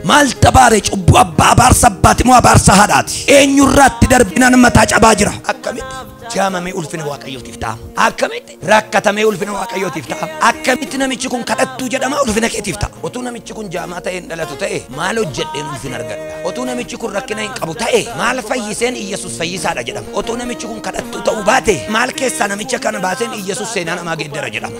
Maal tabaare cubbuu abbaa abaarsa abbaati moo abaarsa haadhaati? Eenyurraatti darbinaan mataa cabaa jira. Akkamitti jaamamee ulfina waaqayyootiif ta'a? Akkamitti rakkatamee ulfina waaqayyootiif ta'a? Akkamitti namichi kun kadhattuu jedhama ulfina keetiif ta'a? Otuu namichi kun jaamaa ta'een dhalatu ta'e maal hojjedheen ulfina argadha? Otuu namichi kun rakkina hin qabu ta'e maal fayyiseen Iyyasuus fayyisaadha jedhama? Otuu namichi kun kadhattuu ta'uu baate maal keessaa namicha kana baaseen Iyyasuus seenaa namaa geeddara jedhama?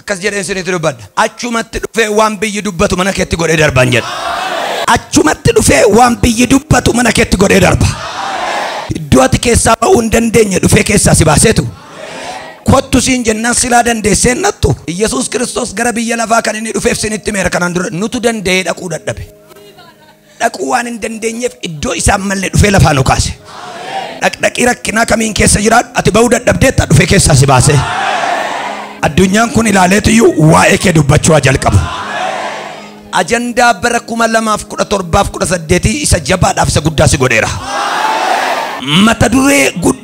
akkas jedheen isinitti dubbadha achumatti dhufee waan biyyi dubbatu mana keetti godhee darban jedha achumatti dhufee waan biyyi dubbatu mana keetti godhee darba iddoo ati keessaa ba'uu hin dandeenye dhufee keessaa si baaseetu kottu siin jennaan silaa dandeessee nattu yesus kiristoos gara biyya lafaa kan inni dhufeef sinitti meera kanaan dura nutu danda'ee dhaquu dadhabe dhaquu waan hin dandeenyeef iddoo isaan malle dhufee lafaa nu kaase. Dhaqdhaqii rakkinaa kamiin keessa jiraadhu ati ba'uu dadhabdeetta dhufee keessaa si baasee. Addunyaan kun ilaaleetiyyuu waa'ee kee dubbachuu haa jalqabu. Ajandaa bara kuma lamaaf kudha torbaaf kudha saddeetii isa jabaadhaaf isa guddaa si godheera. Mata duree guddaa.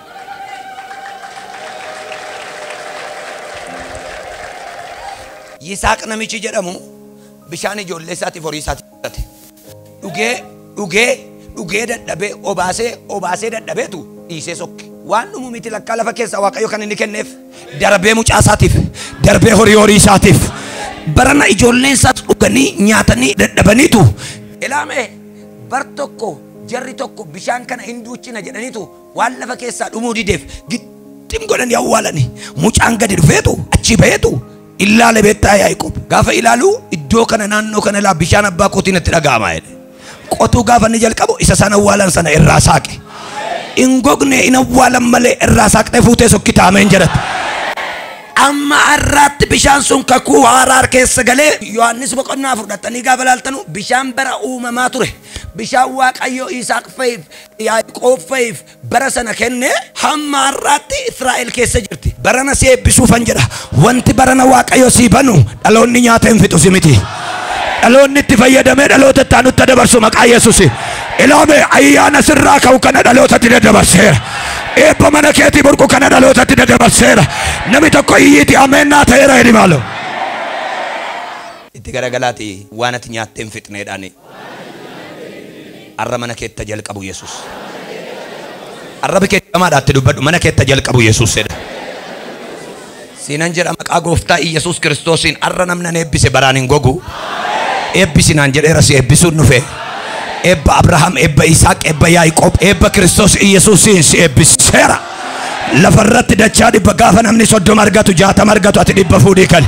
Yisaaq namichi jedhamu bishaan ijoollee isaatiif horii isaatiif fudhate. Dhugee, dhugee, dhugee dadhabee obaasee, obaasee dadhabeetu dhiisee sokke. Waan dhumu miti lakkaa lafa keessaa Waaqayyo kan inni kenneef darbee mucaa isaatiif, darbee horii horii isaatiif. Barana ijoolleen isaas dhuganii nyaatanii dadhabaniitu. Ilaamee bar tokko jarri tokko bishaan kana hin duuchina jedhaniitu waan lafa keessaa dhumuu dideef gittim godhanii awwaalani. Mucaan gadi dhufeetu achii baheetu illaale beektaa Yaaqoob. Gaafa ilaalu iddoo kana naannoo kana ilaa bishaan abbaa kootii natti dhaga'ama jedhe. Qotuu gaafa inni jalqabu isa isaan awwaalan sana irraa saaqe. Hin gogne hin awwaalan malee irraa saaqxee fuutee sokkitaa ameen jedhata. Amma har'aatti bishaan sun kakuu haaraa keessa galee Yohaannis boqonnaa fudhatanii gaafa laaltanu bishaan bara uumamaa ture. Bishaan Waaqayyoo Isaaq fa'iif Yaaqoob fa'iif bara sana kenne hamma har'aatti Israa'el keessa jirti. Barana si eebbisuufan jedha. Wanti barana Waaqayyo sii banu dhaloonni nyaata hin fixu si miti. Dhaloonni itti fayyadamee dhaloota itti aanutti dabarsu maqaa Yesuusi. Ilaame ayyaana sirraa ka'u kana dhalootatti daddabarseera. Eebba mana keetii burqu kana dhalootatti daddabarseera. Nami tokko iyyiiti ameen naa ta'eera jedhi maaloo. Itti garagalaati waan ati nyaattee hin fixneedhaani. Arra mana keetta jalqabu yesus. Arrabi kee jamaadha itti dubbadhu mana keetta jalqabu yesus jedha. Siinan jedha maqaa gooftaa Iyyasuus Kiristoosiin arra namni an eebbise baraan hin gogu. Eebbisi naan jedheera si eebbisuun dhufe. Eebba Abrahaam, eebba Isaaq, eebba Yaaqoob, eebba Kiristoos Iyyasuusiin si eebbiseera. Lafarratti dachaa dhibba gaafa namni soddoma argatu jaatama argatu ati dhibba fuudhii kali.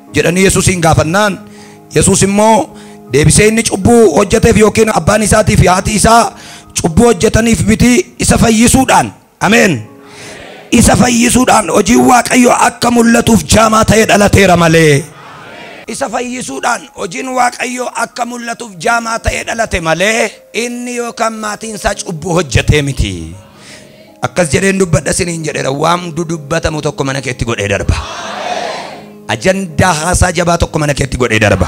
jedhanii Yesusiin gaafannaan, Yesus immoo deebisee inni cubbuu hojjeteef yookiin abbaan isaatii fi haati isaa cubbuu hojjetaniif miti isa fayyisuudhaan, ameen, isa fayyisuudhaan hojiin Waaqayyoo akka mul'atuuf jaamaa ta'ee dhalateera malee, isa fayyisuudhaan hojiin Waaqayyoo akka mul'atuuf jaamaa ta'ee dhalate malee, inni yookaan maatiin isaa cubbuu hojjetee miti. Akkas jedheen dubbadha siniin jedheera waan dudubbatamu tokko mana keetti godhee darba. Ajandaa haasaa jabaa tokko mana keetti godhee darba.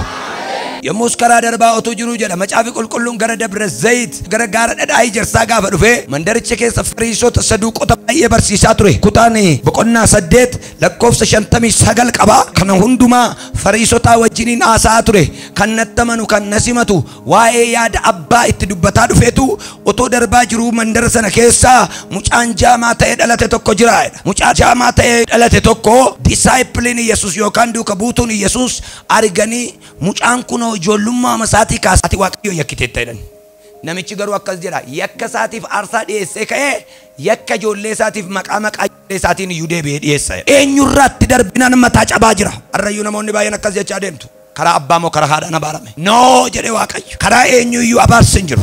Yommus karaa darbaa otuu jiruu jedha macaafi qulqulluun gara Dabra Zayit gara gaara dhadhaa ijarsaa gaafa dhufe mandaricha keessa fariisota saduuqota baay'ee barsiisaa ture. Kutaan boqonnaa saddeet lakkoofsa shantamii sagal qaba. Kana hundumaa fariisotaa wajjiniin haasa'aa ture. Kan nattamanu kan nasimatu Waa'ee yaada abbaa itti dubbataa dhufeetu otoo darbaa jiruu mandara sana keessaa mucaan jaamaa ta'ee dhalate tokko jira jedha. Mucaa jaamaa ta'ee dhalate tokko disaayipiliin Yesus yookaan duuka buutuun Yesus arganii mucaan kunoo ijoollummaama isaatii kaasee ati Waaqayyo yakkiteetta jedhan. Namichi garuu akkas jedha yakka isaatiif aarsaa dhiyeessee ka'ee yakka ijoollee isaatiif maqaa maqaa ijoollee isaatiin iyyuu deebi'ee dhiyeessa. Eenyurraatti darbinaan mataa cabaa jira. Har'ayyuu namoonni baay'een akkas jechaa deemtu. Karaa abbaa moo karaa haadhaan abaarame? No! jedhe Waaqayyo. Karaa eenyuu iyyuu abaarsi hin jiru.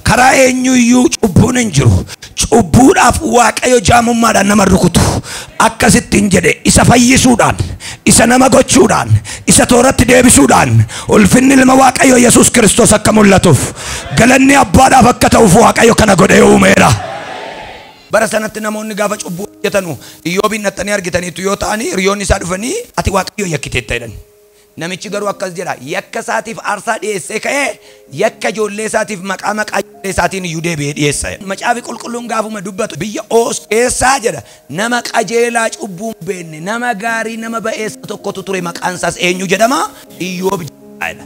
Karaa eenyuu iyyuu cubbuun hin jiru. Cubbuudhaaf Waaqayyo jaamummaadhaan nama hin rukutu. Akkas ittiin jedhe, Isa fayyisuudhaan, isa nama gochuudhaan, isa tooratti deebisuudhaan, ulfinni Ilma Waaqayyoo Yesuus Kiristoos akka mul'atuuf, galanni Abbaadhaaf akka ta'uuf Waaqayyo kana godhee uumeera. Bara sanatti namoonni gaafa cubbuu hojjetanu Iyyoobiin dhaqxanii argitaniittu yoo ta'ani hiriyoonni isaa dhufanii ati Waaqayyoon yakkiteetta jedhan. Namichi garuu akkas jedha, Yakka isaatiif aarsaa dhi'eessee ka'ee, yakka ijoollee isaatiif maqaa maqaa ijoollee isaatiin iyyuu deebi'ee dhi'eessa jedha. Macaafi Qulqulluun gaafuma dubbatu, Biyya Oos keessa jedha, nama qajeelaa cubbuu hin beekne, nama gaarii, nama ba'eessa tokkotu ture, maqaan isaas eenyu jedhama? Iyyoob jedhama jedha.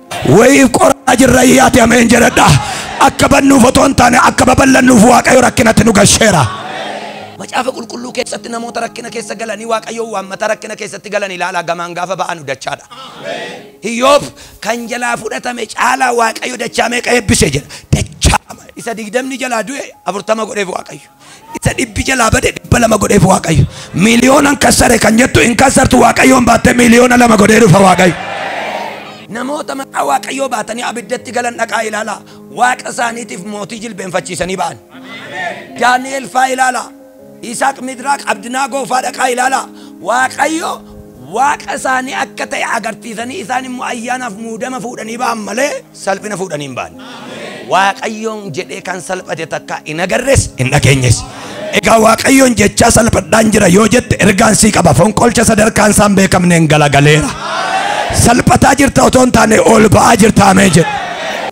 Wayiif qoramaa jirra iyyaati ameen jedhadha. Akka bannuuf otoo hin taane akka babal'annuuf Waaqayyo rakkinatti nu gasheera. Macaafa qulqulluu keessatti namoota rakkina keessa galanii Waaqayyoon waammata rakkina keessatti galan ilaalaa gamaan gaafa ba'anu dachaadha. Iyyoob kan jalaa fudhatame caalaa Waaqayyo dachaa meeqa eebbise jedha. Dachaama. Isa digdamni jalaa du'e afurtama godheef Waaqayyo. Isa dhibbi jalaa bade dhibba lama godheef Waaqayyo. Miiliyoonan kassare kan jettu hin kassartu Waaqayyoon baattee miiliyoona lama godhee dhufa Waaqayyo. Namoota maqaa Waaqayyoo baatanii abiddatti galan dhaqaa ilaalaa. Waaqa isaaniitiif mootii jilbeenfachiisanii ba'an. Daani'el faa ilaalaa. Isaaq Midraaq Abdinaagoo faa dhaqaa ilaalaa. Waaqayyo Waaqa isaanii akka ta'e agarsiisanii isaan immoo ayyaanaaf muudama fuudhanii ba'an malee Salphina fuudhanii hin baane. Waaqayyoon jedhee kan salphate takkaa hin agarres hin dhageenyes. Egaa Waaqayyoon jechaa salphadhaan jira yoo jette ergaan sii qaba. Fonqolcha sadarkaan isaan beekamneen galagaleera. Salphataa jirta otoo hin taane ol ba'aa jirta amee jedhu.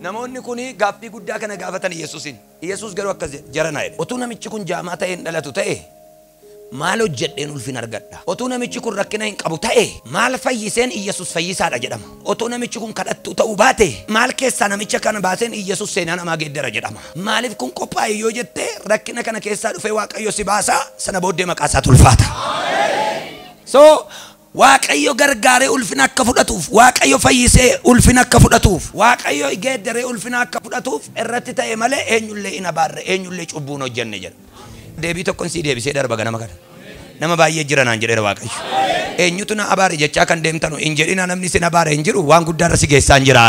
Namoonni kun gaaffii guddaa kana gaafatan Yesuusiin. Yesuus garuu akkas jedhe jarana jedhe. Otuu namichi kun jaamaa ta'ee hin dhalatu ta'e Maal hojjedheen ulfina argadha? Otuu namichi kun rakkina hin qabu ta'e, maal fayyiseen Iyyesuus fayyisaa dha jedhama? Otuu namichi kun kadhattuu ta'uu baate, maal keessaa namicha kana baaseen Iyyesuus seenaa namaa geeddara jedhama? Maaliif kun qophaa'e yoo jette, rakkina kana keessaa dhufee Waaqayyo si baasa, sana booddee maqaa isaatu ulfaata. So, Waaqayyo gargaaree ulfina akka fudhatuuf, Waaqayyo fayyisee ulfina akka fudhatuuf, Waaqayyo geeddaree ulfina akka fudhatuuf irratti ta'e malee eenyullee hin abaarre, eenyullee cubbuu hin hojjenne jedha. Deebii tokkon sii deebisee darba ganama kana. Nama baay'ee jira naan jedheera Waaqayyo. Eenyutu na abaare jechaa kan deemtanu hin jedhina namni sin abaare hin jiru waan guddaa irra si geessaan jira.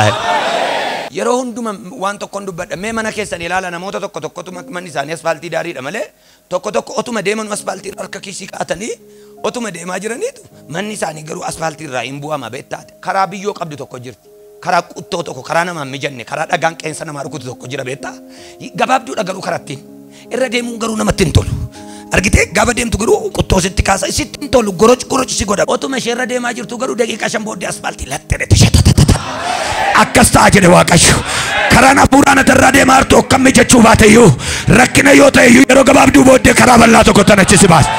Yeroo hunduma waan tokkon dubbadha mee mana keessan ilaala namoota tokko tokkotu manni isaanii asfaaltii daariidha malee Tokko tokko otuma deemanuu aspaaltiirra harka kiisii kaa'atanii otuma deemaa jiraniitu manni isaanii garuu aspaaltiirraa hin bu'ama beektaa ati. Karaa biyyoo qabdu tokko jirti. Karaa quttoo tokko, karaa namaa hin mijanne, karaa dhagaan qeensa namaa rukutu tokko jira beektaa. Gabaabduudha garuu karattiin. Irra deemuun garuu namatti hin tolu. Argitee gaafa deemtu garuu quttoo sitti kaasa, sitti hin tolu, goroc goroc si godha. Otuma ishee irra deemaa Utuu garuu daqiiqaa shan booddee asfaaltii laxxee dhete shatatatata. Akkas ta'a jedhe Waaqayyo. Karaan hafuuraa na irraa deemaa jirtu akkamni jechuu baate iyyuu rakkina yoo ta'e iyyuu yeroo gabaabduu booddee karaa bal'aa tokko tan achisi baase.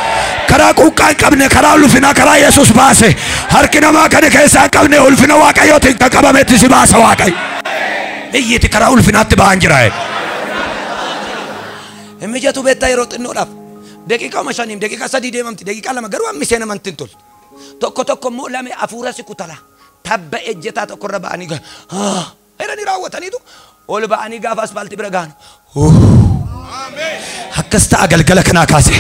Karaa quuqqaa hin qabne, karaa ulfinaa, karaa Yesuus baase. Harki namaa kana keessaa hin qabne ulfina Waaqayyootiin kan qabametti si baasa Waaqayyo. Iyyiti karaa ulfinaatti ba'an jira. Hin mijatu beektaa yeroo xinnoodhaaf. Daqiiqaa shaniif daqiiqaa sadii deemamti daqiiqaa lama garuu hammi seenamantti hin toltu. Tokko tokko immoo lame afuura si kutala. Tabba ejjetaa tokko irra ba'anii ga- Ah! jedhanii raawwataniitu ol ba'anii gaafa aspaaltii bira gahan akkas ta'a galgala kanaa kaase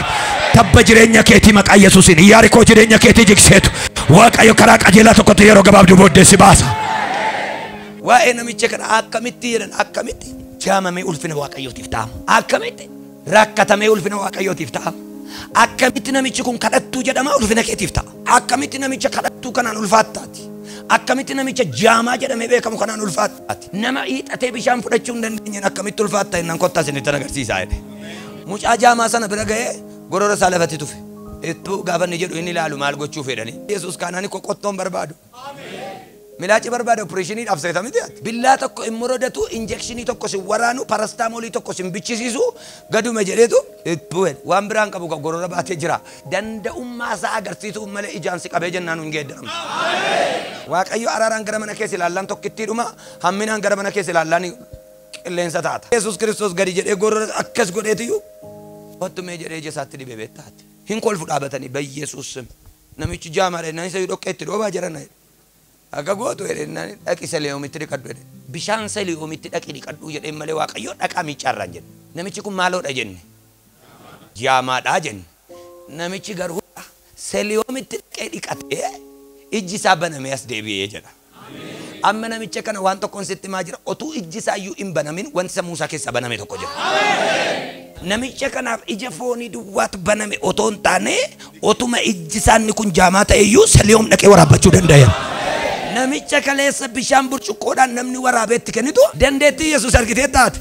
tabba jireenya keetii maqaa yesuusiin iyyaari koo jireenya keetii jigseetu waaqayyo karaa qajeelaa tokkotti yeroo gabaabduu booddee si baasa. Waa'ee namicha kana akkamitti jedhan akkamitti jaamamee ulfina waaqayyootiif ta'ama akkamitti rakkatamee ulfina waaqayyootiif ta'a. Akkamitti namichi kun kadhattuu jedhama ulfina keetiif ta'a. Akkamitti namicha kadhattuu kanaan ulfaattaati. Akkamitti namicha jaamaa jedhamee beekamu kanaan ulfaattaati. Nama hiixatee bishaan fudhachuu hin dandeenyeen akkamitti ulfaatta innan kottaa isinitti agarsiisaa jedhe. Mucaa jaamaa sana bira ga'ee gorora isaa lafatti tufe. Ittuu gaafa inni jedhu inni ilaalu maal gochuu fedhani. Yesuus kaanaan koo qottoon barbaadu. Milaaci barbaade opereeshinii dhaaf seeta miti ati. Billaa tokko hin morodatu, injekshinii tokko sin waraanu, parastaamolii tokko sin bichisiisu, gaduma jedheetu Well, waan biraa hin qabu ka gorora baatee jira. Danda'ummaa isaa agarsiisuuf malee ijaan si qabee jennaan hin geeddaramtu. Waaqayyo araaraan gara mana kee si ilaallaan tokkittii dhuma, hamminaan gara mana kee si ilaallaan qilleensa taata. Yesuus Kiristoos gadi jedhee gorora akkas godheetiyyuu kottu mee jedhee ija isaatti dibe beektaa ati. Hin kolfu dhaabatanii beyesus sim namichi jaamaadha jennaan isayyuu dhoqqee itti dhoobaa jarana jedhe. Akka gootu jedhe jennaan dhaqi Selihomitti dhiqadhu jedhe. Bishaan Selihomitti dhaqi dhiqadhuu jedheen malee Waaqayyo dhaqaa miiccaarraa hin jenne. Namichi kun maaloodha jenne? Jaamaadha jenne. Namichi garuu Selihomitti dhaqee dhiqatee ijji isaa banamee as deebi'e jedha. Amma namicha kana waan tokkon sitti himaa jira, otuu ijji isaa iyyuu hin banamin wanti sammuu isaa keessaa baname tokko jira. Namicha kanaaf ija foonii duwwaatu baname otoo hin taane, otuma ijji isaa inni kun jaamaa ta'e iyyuu seliyoom dhaqee waraabbachuu danda'eera. Namicha kaleessa bishaan burcuqqoodhaan namni waraabee itti kennitu dandeettii Yesuus argitee taate.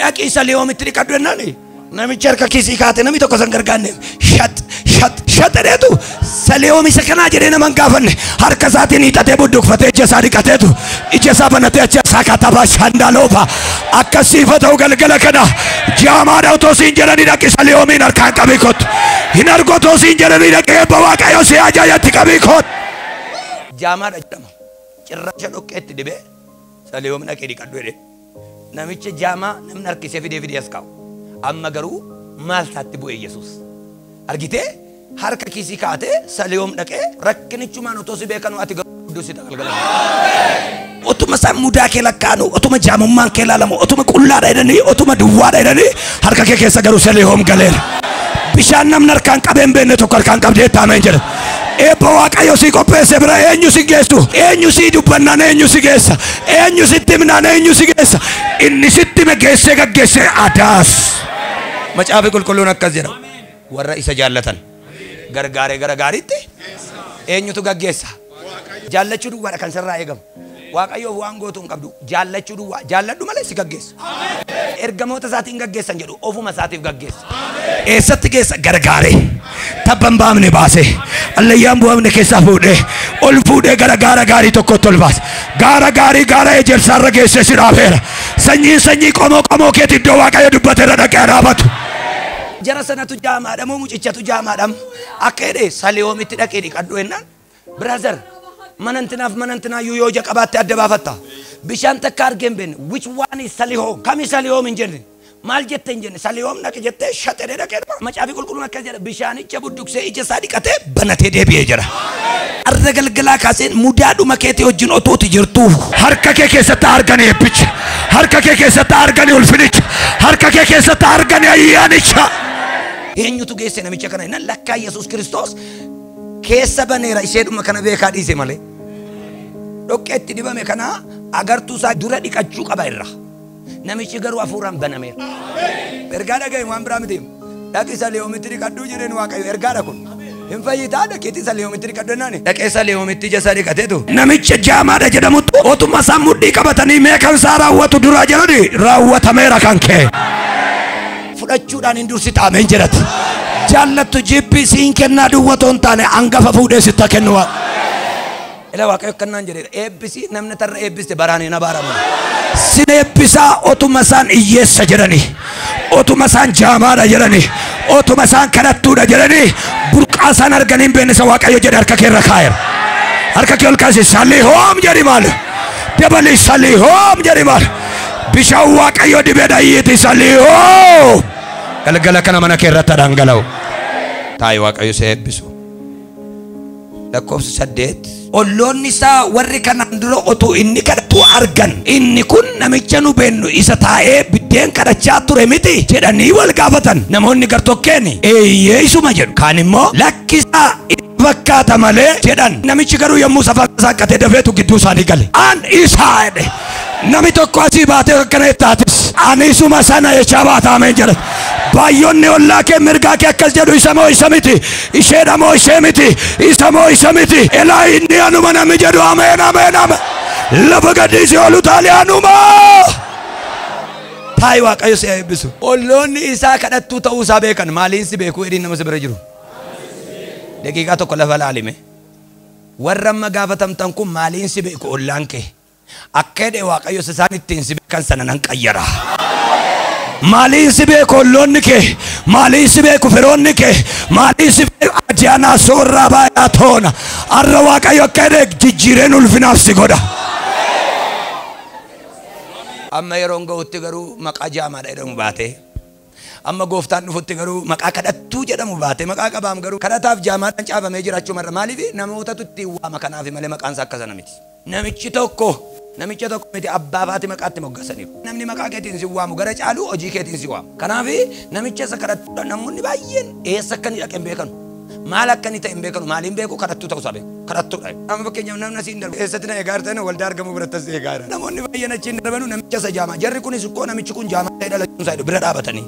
dhaqi isa liyoomitti dhiqadhu jennaan namichi harka kiisii kaate namni tokko san gargaarne shat shat shat jedheetu saliyoom isa kanaa jedhee nama hin gaafanne harka isaatiin hiixatee budduqfatee ija isaa dhiqateetu ija isaa banatee achi isaa katabaa shandaaloofa akkasiifa ta'u galgala kana jaamaadha otoo siin jedhanii dhaqi saliyoomiin harkaan qabii kottu hin argu otoo siin jedhanii dhaqi eebba waaqayyo si ajaajatti qabii kottu. Jaamaadha jedhama cirracha dhoqqeetti dibee saliyoom dhaqee dhiqadhu jedhee. Namicha jaamaa namni harkisee fidee fidee as kaa'u. Amma garuu maal taatti bu'e Yesuus? Argitee? Harka kiisii kaa'atee Saliyoom dhaqee rakkinichumaan otoo si beekanuu ati garuu guddoo si galgala kana. Otuma isaan mudaa kee lakkaa'anu, otuma jaamummaan kee ilaalamu, otuma qullaadha jedhanii, otuma duwwaadha jedhanii harka kee keessa garuu Saliyoom galeera. Bishaan namni harkaan qabee hin beekne tokko harkaan qabdee taameen jedha. Eebba Waaqayyo sii qopheesse bira eenyu si geessu? Eenyu sii dubbannaan eenyu si geessa? Eenyu sitti himnaan eenyu si geessa? Inni sitti hime geessee gaggeessee adaas. Macaafi qulqulluun akkas jedha. Warra isa jaallatan gargaaree gara gaariitti eenyutu gaggeessa? Jaallachuu duwwaadha kan sirraa eegamu. Waaqayyoof waan gootu hin qabdu. Jaallachuu duwwaa. Jaalladhu malee si gaggeessa. Ergamoota isaatii hin gaggeessa hin jedhu. Ofuma isaatiif gaggeessa. Eessatti geessa? Gargaaree. Tabba hin baafne baasee. Allayyaa hin bu'amne keessaa fuudhee. Ol fuudhee gara gaara gaarii tokkotti ol baase. Gaara gaarii gaara ejersaarra geessee si dhaafeera. Sanyiin sanyii qomoo qomoo keetti iddoo Waaqayyo dubbate irra dhaqee dhaabatu. Jara sanatu jaamaadha moo mucichatu jaamaadha? Akka jedhe saliyoomitti dhaqee dhiqadhu jennaan Brother, mana intinaaf mana intinaayyuu yoo ija qabaatte adda baafatta. Bishaan takka argee hin beekne. Which one is Salihoom? Kami Salihoom hin jenne. Maal jette hin jenne. Salihoom dhaqi jettee shaxedee dhaqee dhuma. Macaafi qulqulluun akkas jedha. Bishaanicha budduksee ija isaa dhiqatee banatee deebi'ee jira. Arra galgalaa kaaseen mudaa dhuma keetii wajjin otooti jirtuu. Harka kee keessatti argani eebbicha. Harka kee keessatti argani ulfinicha. Harka kee keessatti argani ayyaanicha. Eenyutu geesse namicha kana? Lakkaa Yesuus Kiristoos keessa baneera isheedhuma kana beekaa dhiise malee dhoqqeetti dibame kana agartuu isaa dura dhiqachuu qaba irra namichi garuu hafuuraan banameera ergaa dhagahe waan biraa miti dhaqi isa leeyomitti dhiqadhuu jireen waaqayyo ergaadha kun hin fayyitaa dhaqeetti isa leeyomitti dhiqadhu jennaan dhaqee isa leeyomitti ija isaa dhiqateetu namicha jaamaadha jedhamutti otuma isaan mudhii qabatanii mee kan isaa raawwatu duraa jedhani raawwatameera kan kee fudhachuudhaan hin dursita ameen jedhati jaallattu jibbii siin kennaa duwwa otoo hin taane hangafa fuudhee sitta kennu waan ila waaqayyo kannaan jedhe eebbisi namni tarra eebbiste baraan hin abaaramu sin eebbisaa otuma isaan hiyyeessa jedhani otuma isaan jaamaadha jedhani otuma isaan kadhattuudha jedhani burqaa isaan arganii hin beekne isa waaqayyo jedhe harka kee irra kaa'eera harka kee ol kaasi salii hoom jedhi maal dabali salii hoom jedhi maal Bishaan Waaqayyo dibe dhayyiiti isa liihoo. Galgala kana mana kee irratti dhangala'u. Taayi Waaqayyo si eebbisu. Lakkoofsa saddeet. Olloonni isaa warri kanaan dura otuu inni kadhatu argan inni kun namicha nu beennu isa taa'ee biddeen kadhachaa ture miti jedhanii wal gaafatan namoonni gartokkeen eeyyee isuma jedhu kaan immoo lakkisaa itti fakkaata malee jedhan namichi garuu yommuu safaa isaa qabatee dafeetu gidduu isaanii gale an isaa jedhe Nami tokko asii baatee akkana jettaa atis. Ani isuma sana jechaa baata ameen jedhe. Baay'onni ollaa kee mirgaa kee akkas jedhu isa moo isa miti. Isheedha moo ishee miti. Isa moo isa miti. Elaa inni anuma nami jedhu ameen ameen ameen. Lafa gadhiisii oolu taalee anuma. Taayi waaqayyo si eebbisu. Olloonni isaa kadhattuu ta'uu isaa beekan maaliin si beekuu edhiin nama si bira jiru. Daqiiqaa tokko lafa laalime. Warra amma gaafatamtan kun maaliin si beeku ollaan kee. Akka hidhe Waaqayyo isa isaan ittiin si beekan sana nan qayyara. Maaliin si beeku olloonni kee? Maaliin si beeku firoonni kee? Maaliin si beeku ajaanaa soorraa baay'aa toona? Har'a Waaqayyo akka hidhe jijjiireen ulfinaaf si godha. Amma yeroon ga'utti garuu maqaa jaamaadha jedhamu baatee Amma Gooftaan dhufutti garuu maqaa kadhattuu jedhamu baatee maqaa qabaam garuu kadhataaf jaamaadhaan caafamee jira achuma irra maaliif namootatu ittiin waama kanaafi malee maqaan isaa akka sana miti. Namichi tokko namicha tokko miti abbaa fi haati maqaa itti moggasaniiru. Namni maqaa keetiin si waamu gara caalu hojii keetiin si waama. Kanaaf namicha isa kadhattuudha namoonni baay'een eessa akka inni dhaqe hin beekanu. Maal akka inni ta'e hin beekanu. Maali hin beeku? Kadhattuu ta'uu isaa beeku. Kadhattuudha. Amma fakkeenyaaf namni asiin darbu eessatti na eegaa jirtan waldaa argamuu biratti as eegaa jira. Namoonni baay'een achiin darbanu namicha isa jaamaa. Jarri kunis koo namichi kun jaamaa ta'e dhalachuun isaa bira dhaabatanii.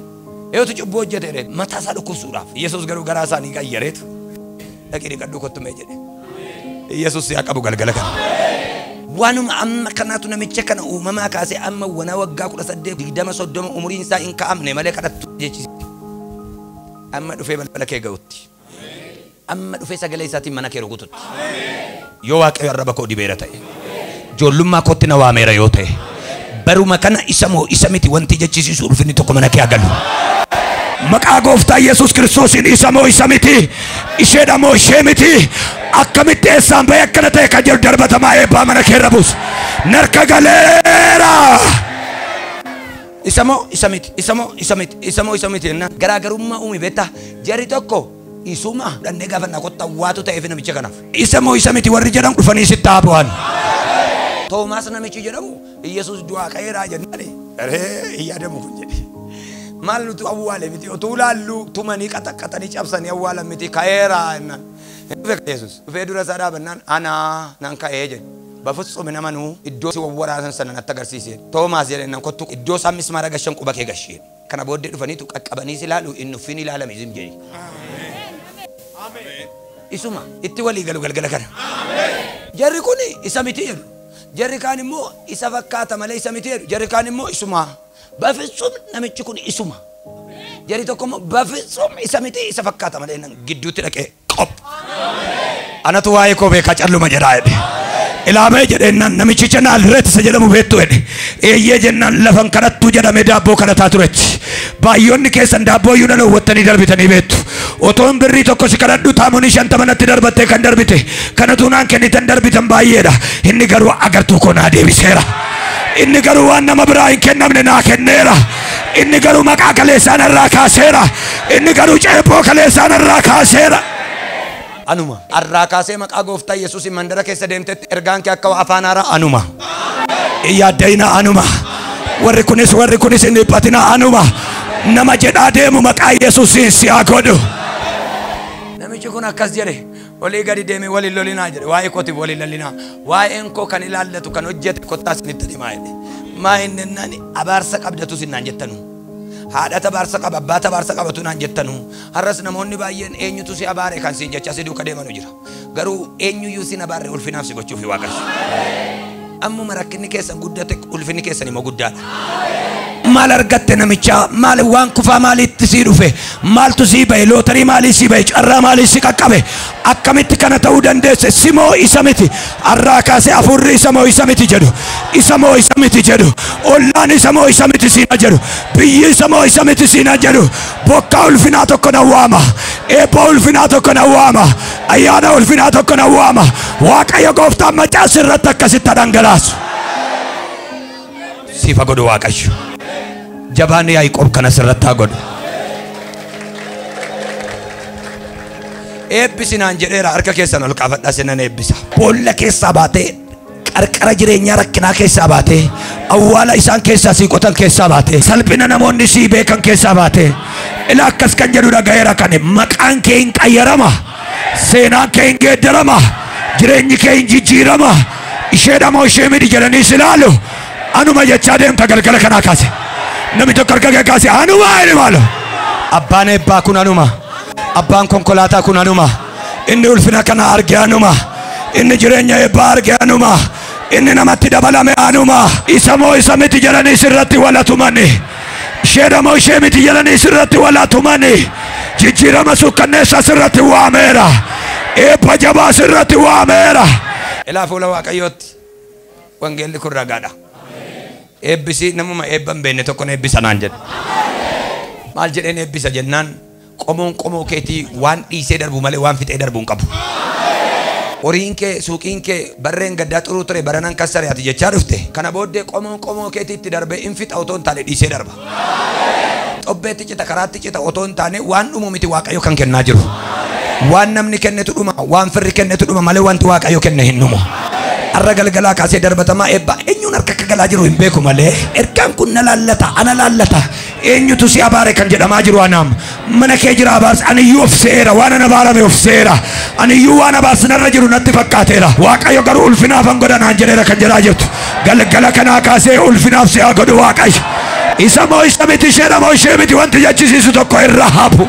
Eeyotu cubbuu hojjete jedhee mataa isaa dhukkubsuudhaaf. Yesuus garuu garaa isaanii qayyareetu dhaqii dhiqadhuu kottu mee jedhe. Yesuus si haa qabu galgala kana. Waanuma amma kanaatu namicha kana uumamaa kaasee amma wanaa waggaa kudha saddeet digdama soddoma umuriin isaa hin kaa'amne malee kadhattuu jechisiisa. Amma dhufee balbala kee ga'utti. Amma dhufee sagalee isaatiin mana kee rukututti. Yoo Waaqayyo arraba koo dibeera ta'e, ijoollummaa kootti na waameera yoo ta'e, baruma kana isa moo isa miti wanti jechisiisu ulfinni tokko mana kee haa galu. Maqaa gooftaa Yesuus Kiristoosiin isa moo isa miti, isheedha moo ishee miti, akkamitti eessaan ba'e akkana ta'e kan jedhu darbatamaa eebbaa mana keerra buusu. Narka galeera! Isa moo isa miti? Isa moo isa miti? Isa moo isa miti? jennaan garaagarummaa uume beektaa? Jarri tokko isuma dhannee gaafannaa kottaa waatu ta'eef namicha kanaaf. Isa moo isa miti warri jedhan dhufanii sitti haa bu'an. Toomaas namichi jedhamu Iyyasuus du'aa ka'eeraa jennaan ree hin yaadamu kun jedhe. Maal nutu awwaale miti otuu laalluu tumanii qaxaqqaxanii cabsanii awwaalan miti ka'eeraa jennaan. Dhufee Iyyasuus dhufee dura isaa dhaabannaan anaa nan ka'ee jedhe. Bafutsuum hin amanu, iddoo si wawwaraasan sana natti agarsiiseen. Toomaas jedheennan kottu iddoo isaan mismaara gashan quba kee gasheen. Kana booddee dhufaniitu qaqqabanii si ilaalu hin nuffiin ilaalami zim jedhi. Isuma, itti walii galu galgala kana. Jarri kun isa miti jedhu. Jarri kaan immoo isa fakkaata malee isa miti jedhu. Jarri kaan immoo isuma. Bafitsum namichi kun isuma. Jarri tokko immoo bafitsum isa miti isa fakkaata malee jennaan gidduutti dhaqee. qop anatu waa'ee koo beekaa calluma jedhaa jedhe ilaamee jedheennan namichi jenaan reetisa jedhamu beektu jedhe eeyyee jennaan lafan kanattu jedhame daabboo kadhataa turetti baay'oonni keessan daabboo iyyuu nan hawwattanii darbitanii beektu otoon birrii tokko si kadhadhu taamonii shantama natti darbattee kan darbite kanatu naan kennitan darbitan baay'eedha inni garuu agartuu koo naa deebiseera inni garuu waan nama biraa hin kennamne naa kenneera inni garuu maqaa kaleessaan irraa kaaseera Inni garuu ceephoo kaleessaa narraa kaaseera. Anuma. Arraa kaasee maqaa gooftaa Yesuusiin mandara keessa deemtetti ergaan kee akka afaan haaraa anuma. Hin yaadda'ina anuma. Warri kunis warri kunis hin dhiphatina anuma. Nama jedhaa deemu maqaa Yesuusiin si haa godhu. Namichi kun akkas jedhe olii gadi deemee waliin lolinaa jedhe waa'ee kootiif waliin lallinaa waa'een koo kan ilaallatu kan hojjete kottaa isinitti himaa jedhe maa hin nennani abaarsa qabdatu sinnaan jettanu. Haadha tabaarsa qaba, abbaa tabaarsa qaba utuu naan jettanuu, har'as namoonni baay'een eenyutu si abaare kan siin jechaa si duuka deemanu jira. Garuu eenyuyyuu sin abaarre ulfinaaf si gochuufi Waaqarra. Ammuma rakkinni keessan guddate ulfinni keessan immoo guddaadha. Maal argatte namichaa? Maal waan kufaa maaliitti sii dhufe? Maaltu sii ba'e? Lootarii maalii sii ba'e? Carraa maalii si qaqqabe? Akkamitti kana ta'uu dandeesse? Si moo isa miti? Arraa kaasee hafuurri isa moo isa miti jedhu, isa moo isa miti jedhu, ollaan isa moo isa miti siina jedhu, biyyi isa moo isa miti siina jedhu, bokkaa ulfinaa tokko na waama, eebba ulfinaa tokko na waama, ayyaana ulfinaa tokko na waama, Waaqayyo gooftaan macaas irratti akkasitti dhangalaasu. Siifa godhu Waaqayyo. Jabaan Yaaqoob kanas irratti haa godhu. Eebbisi naan jedheera harka keessan ol kaafadhaa sinan eebbisa. Boolla keessaa baatee qarqara jireenyaa rakkinaa keessaa baatee awwaala isaan keessaa sii qotan keessaa baatee salphina namoonni sii beekan keessaa baatee ila akkas kan jedhu dhagayeera kan maqaan kee hin qayyarama seenaan kee hin geeddarama jireenyi kee hin jijjiirama isheedha moo ishee miti jedhanii si ilaalu anuma jechaa deemta galgala kanaa kaase namni tokko harka kee kaase anuma jedhe maalo abbaan eebbaa kun anuma. Abbaan konkolaataa kun anuma. Inni ulfina kana arge anuma. Inni jireenya eebbaa arge anuma. Inni namatti dabalame anuma. Isa moo isa miti jedhanii sirratti wal atumani. Isheedha moo ishee miti jedhanii sirratti wal atumani. Jijjiirama sukkanneessaa sirratti waameera. Eebba jabaa sirratti waameera. Ilaa fuula Waaqayyootti wangeelli kun ragaadha. Eebbisi namuma eebba hin beekne tokkon eebbisa naan jedhe. Maal jedheen eebbisa jennaan Qomoon qomoo keetii waan dhiisee darbu malee waan fixee darbu hin qabu. Horiin kee, suuqiin kee barreen gaddaa xuruu ture baranan kassare ati jechaa dhufte. Kana booddee qomoon qomoo keetiitti darbee in fixa otoo hin taane dhiisee darba. Xobbeetti cita, karaatti cita otoo hin taane waan dhumu miti Waaqayyo kan kennaa jiru. Waan namni kennetu dhuma, waan firri kennetu dhuma malee wanti Waaqayyo kenne hin dhumu. Har'a galgalaa kaasee darbatamaa eebbaa eenyuun harka akka galaa jiru hin beeku malee ergaan kun na laallata, ana laallata. Eenyutu si abaare kan jedhamaa jiru anaam. Mana kee jira abaarsi. Aniyyuu of se'eera. Waanan abaarame of se'eera. Aniyyuu waan abaarsi narra jiru natti fakkaateera. Waaqayyo garuu ulfinaafan godha naan jedheera kan jedhaa jirtu. Galgala kanaa kaasee ulfinaaf si haa godhu Waaqayyo. Isa moo isa miti isheedha moo ishee miti wanti jechisiisu tokko irra hafu.